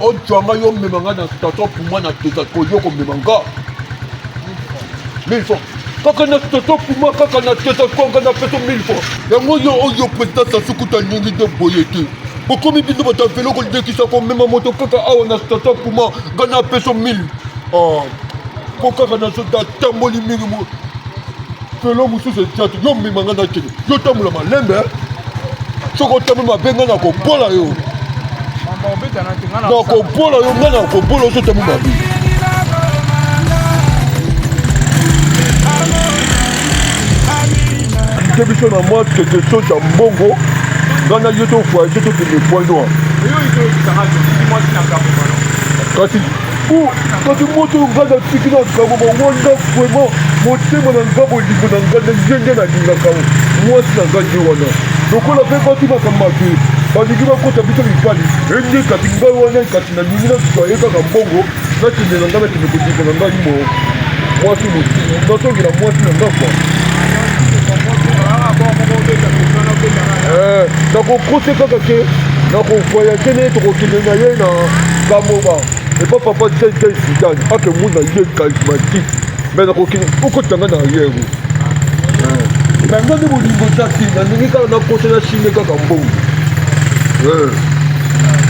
ozwa nga yo omema nga na station puma na teta koyi okomema nga mille fois kaka na station puma kaka na teta konga na peso mille fois yango yo oyo président sasukuta ndenge te boye te bokomi biso bato ya velo kolekisa komema moto kaka awa na station puma nga na peso mille ah. mpo kaka natamboli mingi felo mosusu etiatu yo mema ngai nakende yo tambola malembe soki otamboli mabe ngai nakobola yo nakobola yo ngai nakobola yo soki otamboli mabe te biso na mwa quelque chose ya mbongo ngai na yo to voyage tokende point noir kasi Ou, kasi moto oyo ngai natiki na nsango mawa wana vraimen motema na ngai bolingo na ngai ndenge nde nalingaka o mwasi na ngai nde wana lokola mpe batu makambo te balingi bakota biso mibali ende kati ngai wana kati nalingi nasuka ye kaka mbongo nakende na ngai nakende kondima na ngai mo mwasi mosusu nazongela mwasi na ngai kwa eh, nakokote kaka te nakovoyage naye tokokende na ye na Kamoma, et pas papa JJ Zidane, pas que mon allié charismatique, mais dans aucune, aucun temps en arrière. Mais moi, nous, nous, nous, nous, nous, kaka nakosa na chine kaka mbongo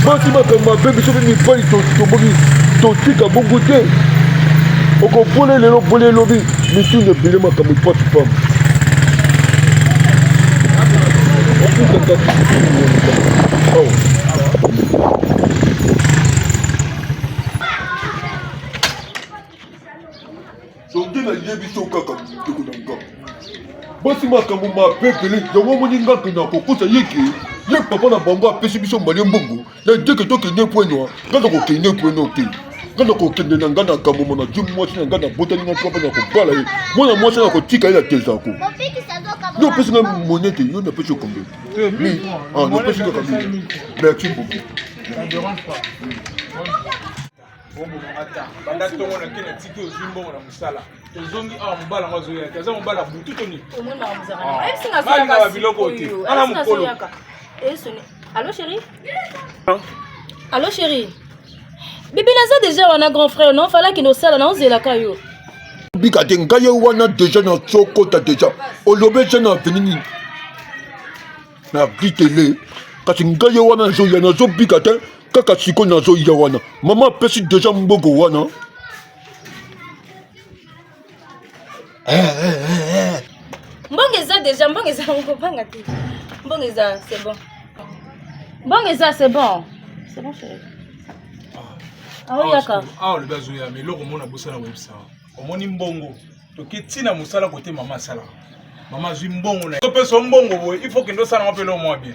basi makambo mabe biso mpe mibali toboki totika bongo te okobole lelo bole elobi mituni ebele makambo epatu pamba okutaka songe nayebi so kaka ndeko na nga basi makambo mabe ebele yango omoni nga mpe nakokosa ye ke ye papa na bango apesi biso mbali mbongo ya ndeke tokende pwenwa nga nakokende pweno te nga nakokende na nga na kamoma na jumi mwasi na nga nabotani nga papa na kobala ye mwana mwasi nakotika ye na tezako yo opesi nga monete yo napesi yo kombe Oui. Ah, non, pas si tu as mis. Mais tu beaucoup. Ça ne dérange pas. obomanga ntango banda ntongo na ke na tiki ozwi mbongo na mosala tozongi awa mobala yango azoya te aza mobala butu to nini balingaka biloko te ana mokolo alo chéri Allô chérie. Bébé naza déjà wana grand frère non falaki nosala na ozelaka yo. Bika te ngai wana déjà na sokota déjà olobi eza na aveni nini na vie tele kasi ngai wana nazoya nazobika te kaka sikoyo nazoya wana mama apesi déjà mbongo wana mbongo eza deja mbongo eza okobanga te mbongo eza c'est bon mbongo eza c'est bon c'est bon chérie aoyaka awa lobi azoya ma eloko mona bosana webisa omoni mbongo toke ntina mosala kote mama asalaka mama azwi mbongo na ye topesa mbongo boye il faut kende osalanga mpe eloko mwa bien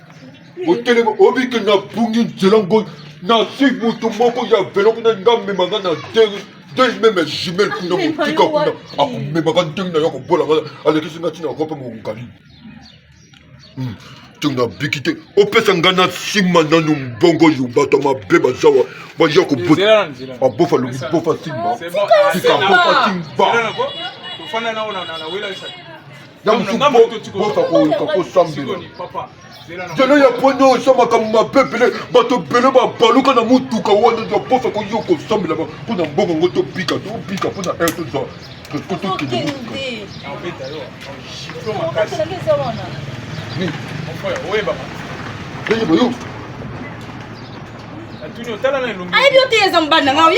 otelema obike na bungi nzela ngo nasi moto moko ya velo kuna nga memanga na dere dei meme jimel kuna motika kuna akomemaka ndenge na yo akobolanga alekisi nga ntina yakope mongani hmm, ntongo nabiki te opesa ngai na nsima nanu mbongo yo bato ya mabe bazawa baya kobota abofa lobi bofa simba tika bofa simba zela ya pwani oyo eza makambo mabe ebele bato ebele babaluka na motuka wana ya posa koyo kosambela mpo na mbongo yango tobika tobika mpo na r toza presque tokende motuka eyeba yo ayebi yo te eza mobali na ngai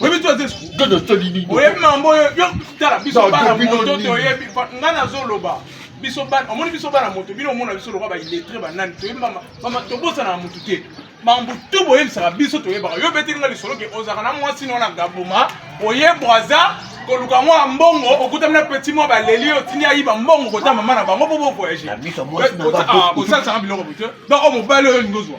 oyebi to aze dodo toli nini oyebi mambo oyo yo tala biso bana moto toyebi nga nazoloba biso bana omoni biso bana moto bino omona biso lokola baillettre banani toyebi tobosana na motu te mambo tu boyebisaka biso toyebaka yo obeteli nga lisolo ke ozalaka na mwasi nao na gaboma oye braza koluka mwa mbongo okutami na peti mwa baleli yo otindi ayiba mbongo kota mama na bango mpo bovoyage osalisaka biloko bote donc oyo mobali oyo olingi ozwa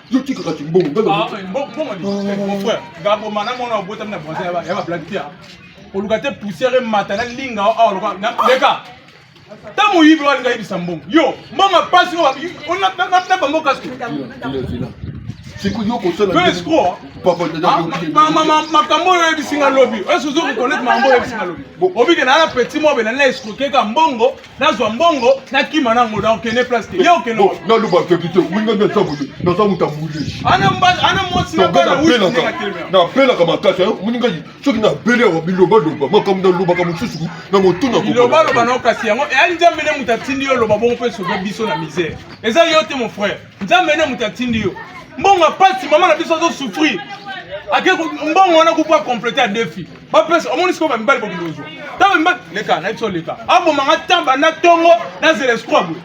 yo tika kati mbongo gaboma na mwana obotami na brazil ya bablaki te oluka te poussière emata na linga awa loka leka ta moyibi oyo alinga yebisa mbongo yo mbongo mpasi na bamboka makambo oyo oyebisinga lobi oyo sozo reconnaître makambo oyo oyebisinga lobi obike na na petit mobe na na escroke ka mbongo nazwa mbongo nakima nango nakokende place te ye okende na luba te bite winga nde ntango te naza moto ya muleshi ana mwasi na bana napelaka makasi moninga ye soki nabeli awa bilobaloba makambo nalobaka mosusu na motuna bilobaloba nao kasi yango eya nzambe nde moto atindi yo oloba bongo mpo esobe biso na misère eza yo te mon frère nzambe nde moto atindi yo mbongo apasi mama na biso azosouffrir ake mbongo wana kupo akomplete ya defi bapesa omoni sikoyo bamibali bobimi ozwa ta bamibali leka na biso leka abomanga tamba na tongo na zelescroa boye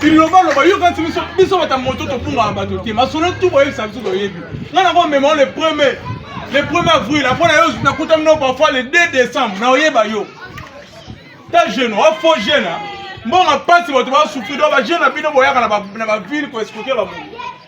bilobaloba yoka ti biso biso bata moto topungaka bato te masolo tu boyebisa biso toyebi nga nako mema le premier le premier avril apona yo nakuta mino parfois le 2 décembre na oyeba yo ta jeune oa faux jeune mbonga mpasi bato basufri do bajeune na bino boyaka na baville koescroke bamoto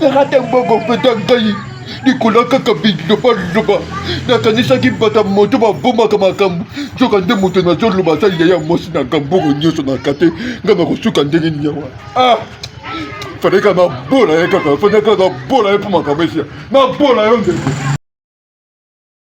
erate mbongo mpenza ngai likolo kaka bilobaloba nakanisaki bata moto babomaka makambo nzoka nde moto nazoloba asali yaya mwasi na gambongo nyonso na kate ngai nakosuka ndenge nini yawa ah! fandaka nabola ye kaka fandaka nabola ye mpo makambo esia nabola yo ndeko